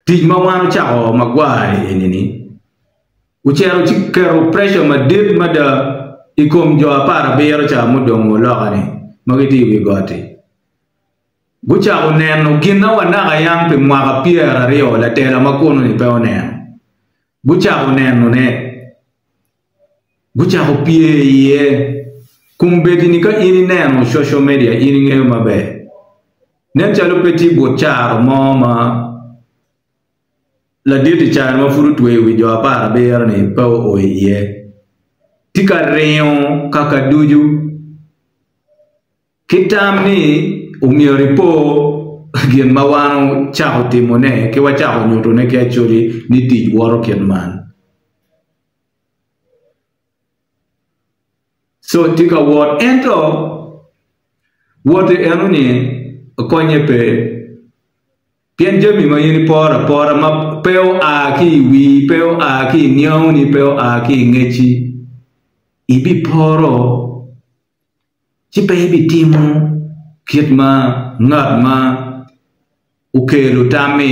Tic ma wan ocako magwar-ri eni-ni ocito ci keto preca madit mada i kom jo apar abiro ca mudong wa loka-ni ma gitye i wi got-ti. Gucako neno gin ma wanaka yam pi mwaka pyeraryo latela ma kuno-ni pe oneno. Gucako nenone. gucako pye iye. Kombeddi-ni ka in ineno coco media in ingeyo maber, nen calo pe tye but caro mo ma ladit i caro ma pud otweyo wi jo apar abiro-ni pe oo iye. Tye ka ringo kaka ducu ki tam ni omyero ipo gin ma wan wucako timone ki wacako nyutone ki acoli ni tic woto kit man. Col tye ka wot ento wote enoni konye pe pien jami ma in iporo apora ma pe oa ki i wii pe oa ki i niangoni pe oa ki i ngecci ibiporo. ci pe ibitimo kit ma ngat ma okelo tam-mi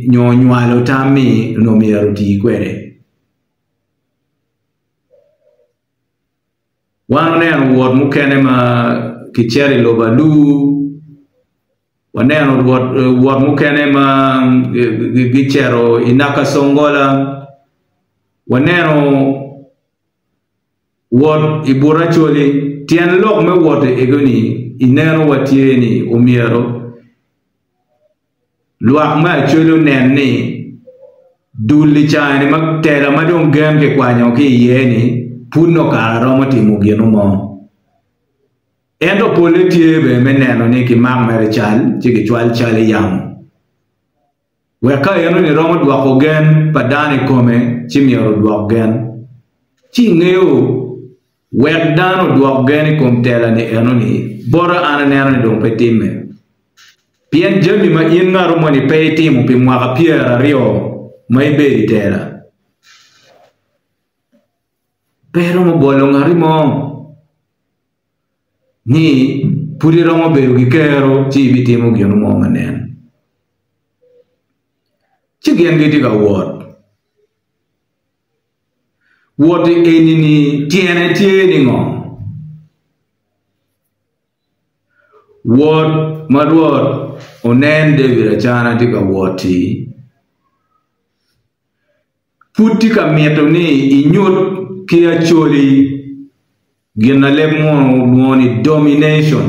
nyo onywalo tam-mi onongo myero oti kwede. Wan oneno wot mukene ma kicito i lobo alur, waneno wot mukene ma gicito i naka conggola, waneno Wot i but Acholi, Tyen lok me wot i egoni ineno wa tye ni omyero lwak me Acholi onen ni dul i cani ma tela ma dong gen ki kwanyo ki iye ni pud nongo kare romo timo gino mo. Ento pole tye bene me neno ni ki mak mere cal ci ki cwal cal iyamo. Wek ka enoni romo dwoko gen pa dano i kome, ci myero odwok gen. Ci ingeyo, wek dano odwok gen i kom telani enoni, bota an aneno ni dong pe timme. Pien jami ma in ngatu moni pe itimo pi mwaka pyer aryo ma ibedo i tela, pe iromo bolo ngati mo ni pud iromo bedo ki kero ci ibitimo gin mo ma nen. Ci gin gitye ka wot. Wot eni-ni tyene tye ni ngo? Wot ma Rwot onen David Acana tye ka wot-ti, pud tye ka mito ni inyut ki acoli Ginaleb munu olwongo ni domination.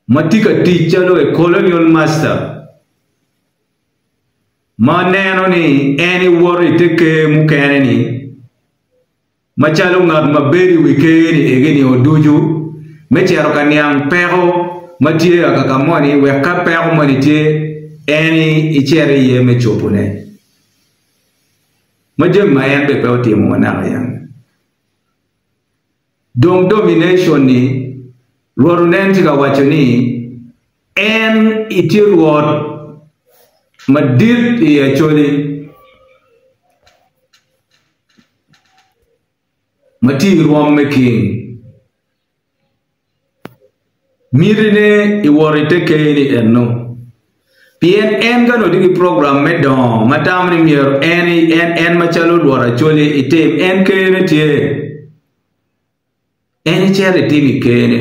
Ma tye ka tic calo a colonial master ma neno ni en ewoto i te ker mukene ni, Macalo ngat ma bedo i wi ker-ri i higini o ducu, me cito ka niang peko ma tye aka ka moni wek ka peko moni tye en icit iye me cobone, ma jami ma en bene pe otimo ma naka yam. Dong domination-ni, Rwodo nen tye ka waco ni en itye Rwot madit i Acoli. ma tye i rwom me keny, mitine i wot i te ker-ni ennu, pien en ka nongo tye ki program me dongo ma tamo ni myero en en macalo lworo acolli itim en kene tye, en icito itim i kene.